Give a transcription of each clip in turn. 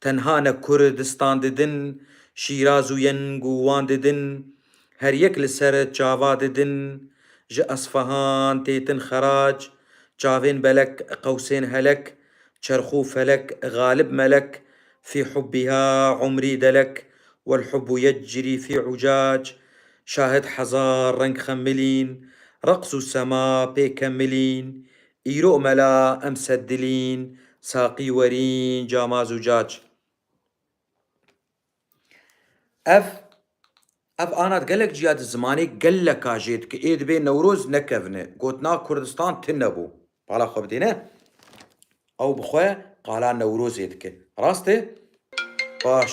Tenha ne Kur distan didin, Şîraz û Yeng û Wan didin, her yek li ser çava didin. Ji Esfahan têtin xerac, çavên belek qewsên helek, çerxû felek galib melek, fî hubbiha umrî delek, wel hubbu yecrî fî ucac. Şahid hezar reng xemilîn, reqs û sema pê kemilîn, Îro mela em seddilîn, saqî werîn, cama zûcac. Ev ev anat gelek ciya di zimanê geleka jê di ki ê dibê Newroz nekevne. Gotina Kurdistan tine bo. Pala xwe bidê ne? Ew bi xwe qala Newrozê dike. Rast e? Baş.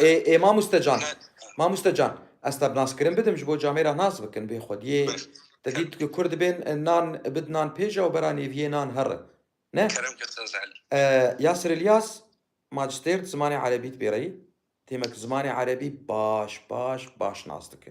Ê ê mamoste can, mamoste can ez te bi naskirin bidim ji bo camê re nas bikin bê xwediyê te dît ku kur dibên nan bid nan pêja û bera nêviyê nan herre ne? Yasir Ilyas Majistêr di zimanê erebî dibêreyî têmek zimanê erebî baş baş baş nas dike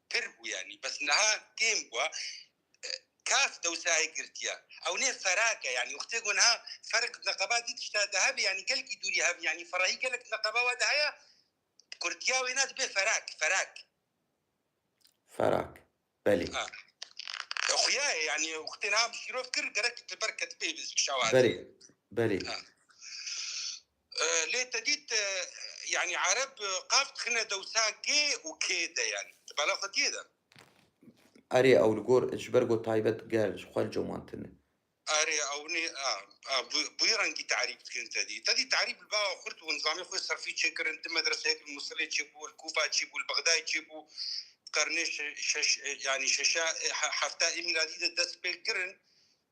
Pir bû yanî bes niha kêm bû kaf dewsayê girtiya ew nê ferak e yanî wextê ku niha ferq neqeba dî tişta de hebê yanî gelkî dûrî hebî yanî ferahî gelek neqeba wa de heye kurtiya wê na dibe ferak ferak ferak belê xuyayê yanî wextê niha şîrov kir gerek li ber ketibê kişa wa belê belê Lê te dît yanî ereb qaf dixine dewsa gê û kê de yanî di bala xwediyê de. Erê ew li gor ji ber ku taybet ger ji xwe coman tune. Erê ew nê a a bûyî rengî terîf dikin te dî. Te dî terîf li bala xurt bû nizamê xwe serfî çêkirin di medreseyek li Musilê çêbû li Kûfa çêbû li Bexdayê çêbû di qernê şeş yanî şeşa hefta ê mîladî de dest pê kirin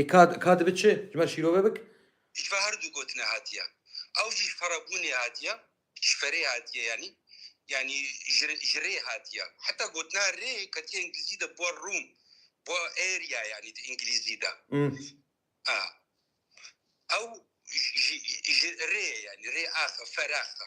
Ê ka ka dibe çi? Ji ber şîrove bik? Ji ber her du gotine hatiye. Ew jî ji ferebûnê hatiye, ji ferê hatiye yanî. Yanî ji ji rê hatiye. Heta gotina rê ketiye îngilîzî de bûa room, bûa area yanî di îngilîzî de. A Ew ji ji rê ye yanî rê axe, feraxe.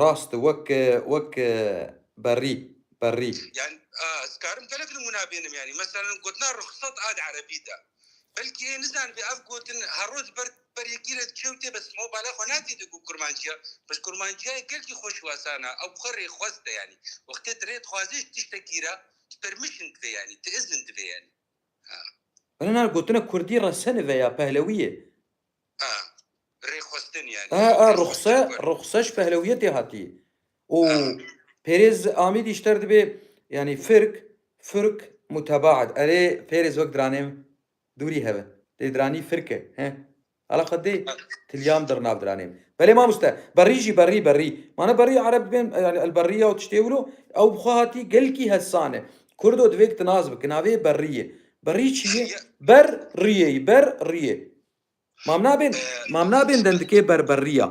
Rast wek wek berrî berrî. Yan ez dikarim gelek nimûna bênim yanî meselen gotina ruxsat a di erebî de belkî ê nizanibê ev gotin her roj ber ber yekî re diçe û tê bes ma bala xwe natêde ku kurmancîya bes kurmancîyayê gelkî xweş û esan a ew xwe rêxwest e yanî wextê tu rê dixwazî ji tiştekî re tu permission divê yanî tu izin divê yanî. Bela nana gotina kurdî resene ve ya pehlewî ye. Rêxwestin yanî. Ee ee ruxse ruxse ji pehlewiyetê hatî û pêrêz amîdî ji ter dibê yanî firk firk mutebaet erê pêrêz wek diranê dûrî heve lê diranî firk e he. Ala xwe dê tilyan dir nav diranê. Belê mamoste, berrî jî berrî berrî. Mane berrî ereb dibên yanî el berrî ya û tiştê wilo ew bi xwe hatî gelkî hesan e. Kurdo divê ki tu nas biki navê yê berrî yê. Berrî çi yê? Ber rîyê yî ber rîyê. Mam nabên mam nabên dendikê ber berrî ya.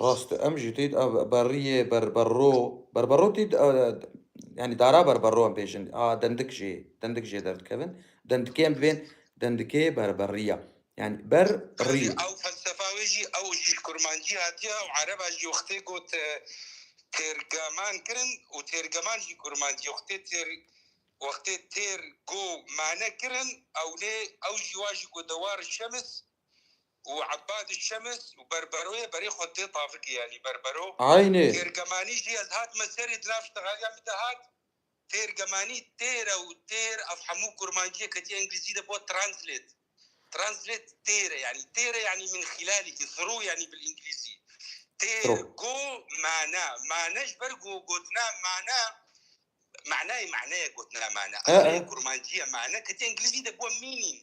Rast e. Em jî tê de berriyê, berberro, berberro tê de yanî dara berberro em bêjin. A dendik jê, dendik jê derdikevin. Dendikê em divên dendikê berberriya. Yanî ber rî. Ew felsefa wê jî ew jî ji kurmancî hatiye û ereba jî wextê got têrgeman kirin û têrgeman jî kurmancî wextê têr wextê têr go mane kirin ewnê ew jî wa jî got dewar şems û Ebadî Şems û berberoyê berê xwe tê tavikê yanî berbero Aynê. têrgemanî jî ez hatime serê di nav ştexaliya min de hat têrgemanî têre û têr ev hemû kurmanciyê ketiye englîzî de bo translate translate têre yanî têre yanî min xîlalî ki through yanî bil englîzî têr Through. go mana mana ji ber go gotina mana manayê maneyê gotina mana E, e. eserê kurmanciyê mana ketiye englîzî de bo meaning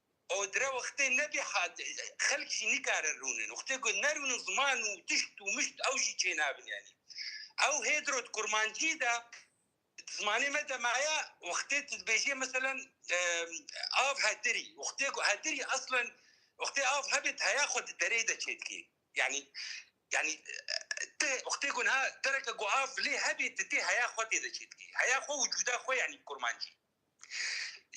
Odre wextê nebî hat xelk jî nikare rûnin. Wextê ku nerûnin ziman û tişt û mişt ew jî çênabin yanî. Ew hê diro di kurmancî de di zimanê me de maye wextê tu dibêjê meselen av hedirî wextê ku hedirî eslen wextê av hebê tu heya xwe di derê de çê dikî. Yanî yanî tu wextê ku niha dereke ku av lê hebê tu tê heya xwe tê de çê dikî. Heya xwe wicûda xwe yanî bi kurmancî.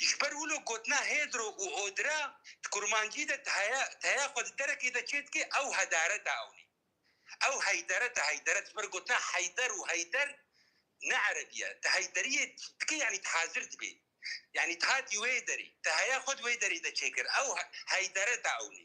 Ji ber wilo gotina hêdro û odre di kurmancî de di heye di heya xwe di derekê de çê dike ew hedaret e ewnî ew heyderet e heyderet ji ber gotina heyder û heyder ne erebî ye di heyderiyê dike yanî di hazir dibê yanî di hatî wê derê di heya xwe di wê derê de çê kir ew heyderet e ewnî.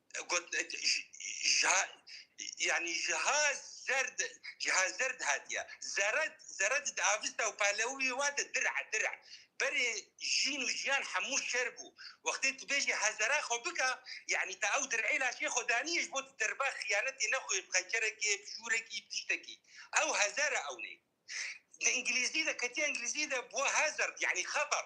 Got jiha yanî jiha zerd jiha zerd hatiye zeret zeret di avista û palewiyê wa de dir e dir e berê jîn û jiyan hemû şer bû wextê tu bêjî hezera xwe bike yanî te ew dirê laşê xwe daniyê ji bo tu derba xiyanetê nexwê bi xençerekê bi şûrekî bi tiştekî ew hezer e ewnê di îngilîzî de ketiye îngilîzî de bûye hazard yanî xeter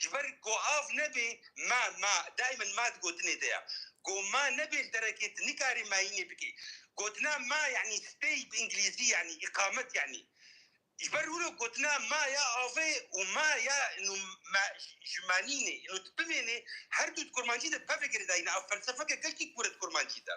Ji ber ku av nebe ma, ma, daimen ma di gotinê de ye. Ku ma nebe li derekê tu nikarî mayînê bikî. Gotina ma yanî stay bi îngilîzî yanî îqamet yanî. Ji ber wilo gotina ma ya avê û ma ya ino ma ji manînê ino tu bimênê her du di kurmancî de pevek rêdayîne. Ev felsefeke gelkî kûr e di kurmancî de.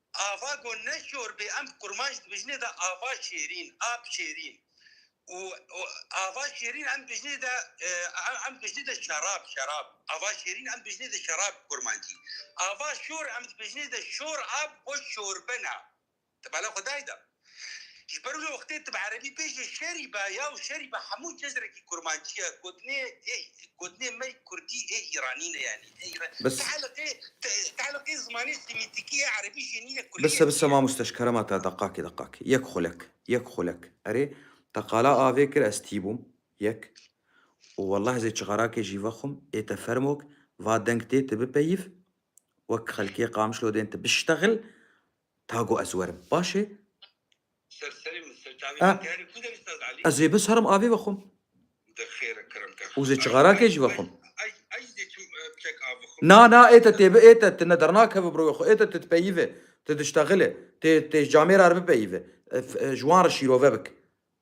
Ava got ne şor bê em kurmanc dibijnê de ava şêrîn, ap şêrîn û ava şêrîn em dibijnê de em dibijnê de şerab, şerab ava şêrîn em dibijnê de şerab bi kurmancî. Ava şor em dibijnê de şor ap bo şorbina. Ti bala xwe dayî de. Ji ber wê wextê tu bi erebî bêjî şerî be yaw şerî be hemû cezrekî kurmancî ye. Gotinê ê gotinê me kurdî ê îranî ne yanî ê îranî. Ti eleqê ti eleqê zimanê semîtîkî ê erebî jê nîne kurdî Bise bise ma musteşkere ma te deqakî deqakî. Yek xulek yek xulek. Erê te qala avê kir ez tî bûm yek û welleh ez ê çixarakê jî vexwim ê te fermok va deng tê tu bipeyîv wek xelkê Qamişlodên tu biştexil Ta got ez werim. Baş e. A. Ez ê biserim avê vexwim. Û zê çixarakê jî vexwim. Na, na, ê te tê bi, ê te, tu ne dernakeve bi royê xwe, ê te tu dipeyîve, tu diştexile, tu tu camêra re bipeyîve, ji wan re şîrove bike.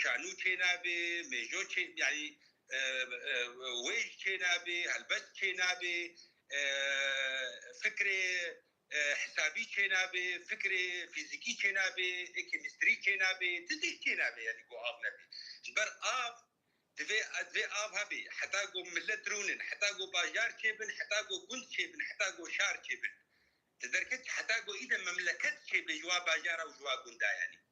Şanû çênabê, mêjo çê yanî wêj çênabê, helbest çênabê, fikrê hesabî çênabê, fikrê fîzîkî çênabê, kêmîstrî çênabê, ti tişt çênabê yanî ku av nebê. Ji ber av divê divê av hebê heta ku milet rûnin, heta ku bajar çêbin, heta ku gund çêbin, heta ku şar çêbin. Ti derket heta ku îde memleket çêbê ji wa bajara û ji wa gunda yanî.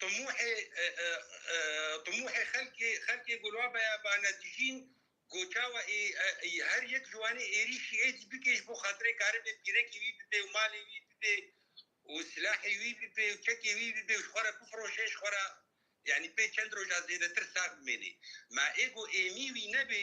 Timûhê timûhê xelkê xelkê Gulabeya Banedijîn ku çawa ê her yek ji wan ê êrîşî êdî bike ji bo xatirê karibê pîrekê wî bibe û malê wî bibe û silahê wî bibe û çekê wî bibe û ji xwe re bifiroşe ji xwe re yanî pê çend roja zêdetir sax bimêne. Ma ê ku êmî wî nebe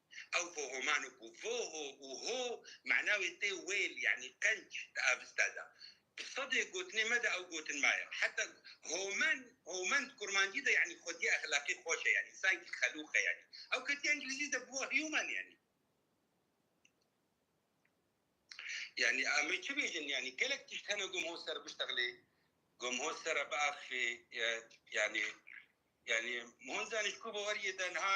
Ew vohoman û ku voho û ho mana wê tê wêl yanî qenc di avista de. Di sedê gotinê me de ew gotin maye. Heta homan, homan di kurmancî de yanî xwediyê exlaqî xweş e yanî sankî xelûq e yanî. Ew ketiye îngilîzî de bûye human yanî. Yanî em ê çi bêjin yanî gelek tişt hene ku em hol ser biştexlê, ku em hol ser re biaxivê yanî. Yanî hon zanîn ji ku baweriyê de niha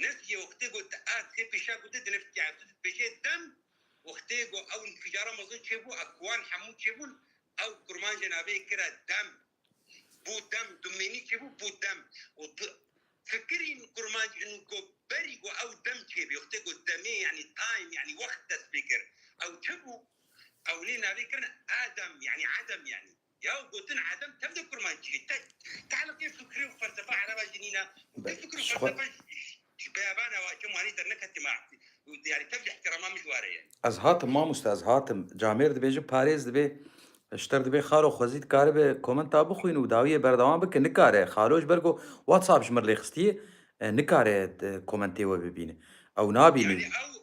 Nefkê wextê ku di a sê pêşa ku tu di nefkê ev tu dibêjê dem wextê ku ew nfîcara mezin çêbû a ku wan hemû çêbûn ew kurmancê navê kira dem bû dem du mênî çêbû bû dem û tu fikirîn kurmanc înu ku berî ku ew dem çêbî wextê ku demê yanî time yanî wext dest pê kir ew çi bû ew nê navê kirin a dem yanî edem yanî. Ya û gotin Edem tevde kurmancîyê tek te'liqê fikrê û felsefa ereba jî nîn e û vê fikr û felsefa ji beyaban e waşem wanî derneketî me ewtî û yanî tev ji îhtîrama min ji ware ye. Ez hatim mamoste ez hatim. Camêr dibêje parêz dibê ji te re dibê xalo xwezî dikaribe komenta bixwîne û dawiyê berdewam bike nikare xalo ji ber ku whatsapp ji min rêxistiyê nikare komentê we bibîne ew nabîne. Yanî ew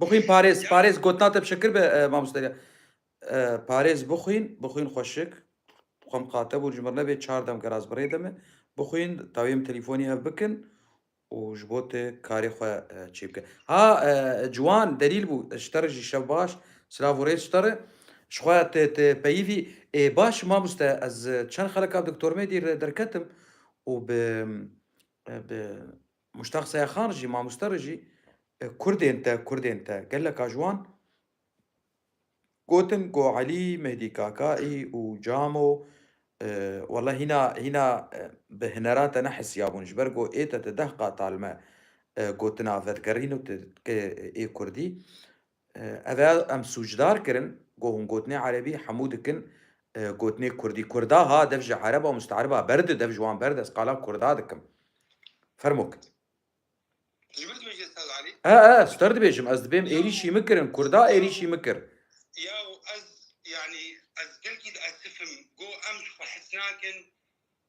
Bixwîn parêz parêz gotina te bi şekir be mamoste parêz bixwîn bixwîn xweşik xwe miqate bû ji mir nebê çar dem geraz bi rê de me bixwîn tawiyê min telîfonî hev bikin û ji bo te karê xwe çê bike ha ciwan delîl bû ji te re jî şev baş silav û rêz ji te re ji xwe te te peyivî ê baş mamoste ez çend xeleka bi doktor Mêdî re derketim û bi bi Muştak Sayaxan jî mamoste re jî kurdên te kurdên te geleka ji wan gotin ku Elî, Mehdî Kakaî û Camo wela hîna hîna bi hinera te nehisiyabûn ji ber ku ê te ti deh qat talme gotina vedigerîn û ti ke ê kurdî Ev ê em sûcdar kirin ku hûn gotinê erebî hemû dikin gotinê kurdî. Kurda ha dev ji ereba û musteeriba berde dev ji wan berde ez qala kurda dikim. Fermo ki. Ji min dibêjî Estaz Alî? E e ez ji te re dibêjim ez dibêm êrîşî min kirin kurda êrîşî min kir. Yaw ez yanî ez gelkî diesifim ku em ji xwe hes nakin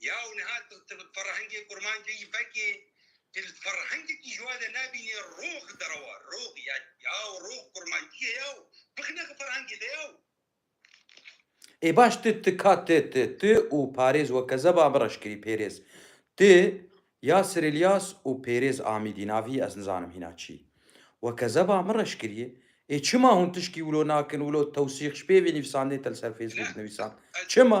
Ya û niha tu tu bi ferhengê kurmancê jî fekê tu li ferhengekî ji wade nabînî rox derewa rox ya ya û rox kurmancî ye ya û bixine xwe ferhengê de ya û Ê baş tu tu ka tu tu tu û parêz we kezeba min reş kirî pêrêz tu Yasir Îlyas û pêrêz Amîdî navî ez nizanim hîna çî we kezeba min reş kirî ê çima hûn tişkî wilo nakin wilo tewsîx ji pêvê nivîsandinê te li ser Facebook nivîsan çima?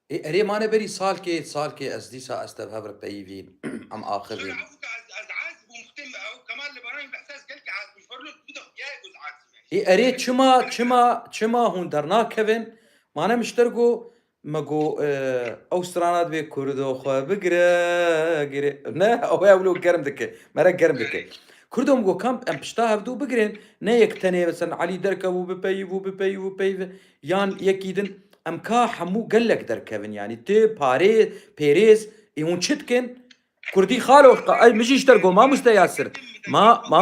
Ê erê mane berî salkê salkê ez dîsa ez tev hev re peyivîn em axivîn. Ê erê çima çima çima hûn dernakevin mane mişter go me go ew strana divê kurdo xwe bigire gire ne ew ê ewlo germ dike me re germ dike. Kurdo min go kam em pişta hevdu bigirên ne yek tenê mesela Elî derkevû bipeyivû bipeyivû peyve Yan yekî din em ka hemû gelek derkevin yanî tu parê pêrêz ê hûn çi dikin? Kurdî xalo ez min jî ji te got mamoste Yasir ma ma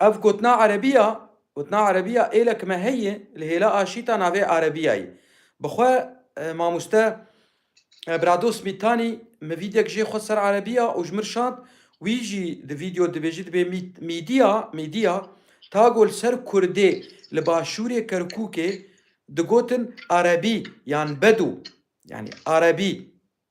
Ev gotina Erebî ya, gotina Erebî ya êlek me heye li hêla aşîta navê Erebîyayê. Bi xwe mamoste Brados Mîtanî min vîdyek jê xwest ser Erebî ya û ji min şand, wî jî di vîdyo dibêjî dibê mîdîya, media, ta ku li ser Kurdê li başûrê Kerkûkê digotin Erebî yan Bedû, yanî Erebî.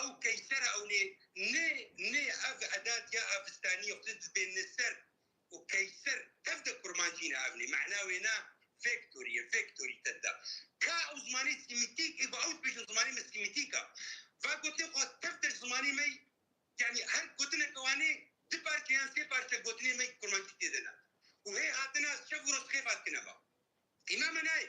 Ew keyser ewnê nê nê ev edat ya avistanî xwe di dibê ni ser û keyser tev de kurmancî ne ewnê mehna wê na vektorî ye vektorî te da ka ew zimanê sîmîtîk ê ku ew dibêjin zimanê me sîmîtîk a va gotnê xwe tev de zimanê me yanî her gotineke wanê di parçe yan sê parçe gotinê me kurmancî tê de ne û hê hatina şev û roz xêf hat kine va îma me nayê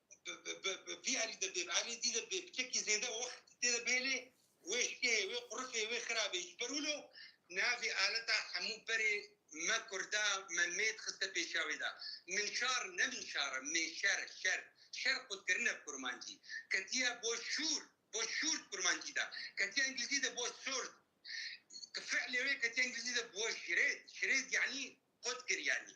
Bi vî alî de bê bi alî zî de bê bi çekî zêde wext tê de bêlê wê şikeyê wê qurifê wê xirabê ji ber wilo navê aleta hemû berê me kurda me mêd xiste pêşiya wê de min şar ne min şar e min şer e şer şer xwed kirine bi kurmancî ketiye bo şûr bo şûr di kurmancî de ketiye engilizî de bo sort fiilê wê ketiye engilizî de bo şirêd şirêd yanî xwed kir yanî.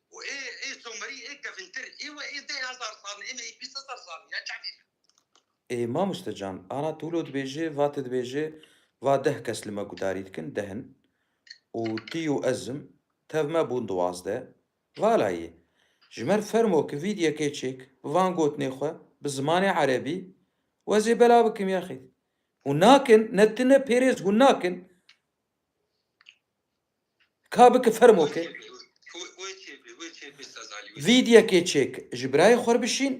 û ê ê somerî ê kevintir ê we ê deh hezar sal ê me ê bîst hezar sal in ya çavê me. Ê mamoste can ana tûlo dibêje va ti dibêje va deh kes li me gudarî dikin deh in û tî û ez im tev me bûn duwazdeh vala yê ji mer fermo ki vîdyekê çêk bi van gotinê xwe bi zimanê erebî wezê bela bikim yaxît hûn nakin ne ti ne pêrêz hûn nakin Ka bike fermo ke. Vîdyekê çêk ji birayê xwe re bişîn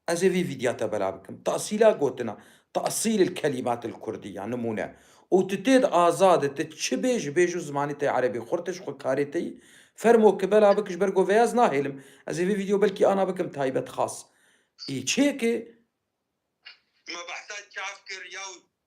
ez ê vî vîdya te belav bikim. Tasîla gotina, tasîl il kelimat il kurdî ya nimûne û tu tê de azad î, tu çi bê ji bêj û zimanî te ya erebî xurtiş xwe karê te yî. Fermo ke belav bike ji ber ku vêya ez nahêlim. Ez ê vî vîdyo belkî ana bikim taybet xas î çêkê.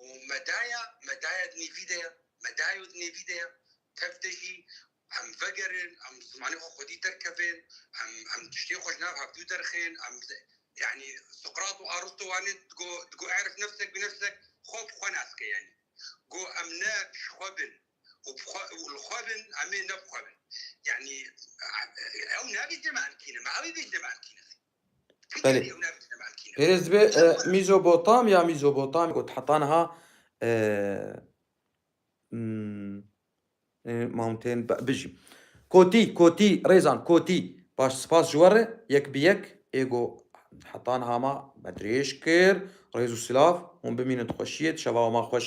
û medaya medaya dinê vî de ye medayo dinê vî de ye tev de jî em vegerin em zimanê xwe xwedî derkevin em em tiştê xwe ji nav hevdû derxin em yanî Suqrat û Aristo wane digo digo erif nefsek bi nefsek xwe bi xwe nas ke yanî go em ne ji xwe bin û bi xwe û li xwe bin em ê ne bi xwe bin yanî ew nabêje me em kî ne me ew ê bêje me em kî ne Belê. Kiştî ew ne bîne belkî. Pêrêz dibe Mîzobotam ya Mîzobotam got heta niha Mountain bijî. Kotî, kotî, rêzan, kotî. Baş spas ji we re yek bi yek êgo heta niha ma me dirêj kir. Rêz û silav, hûn bimînin di xweşiyê, di şeva wan xweş.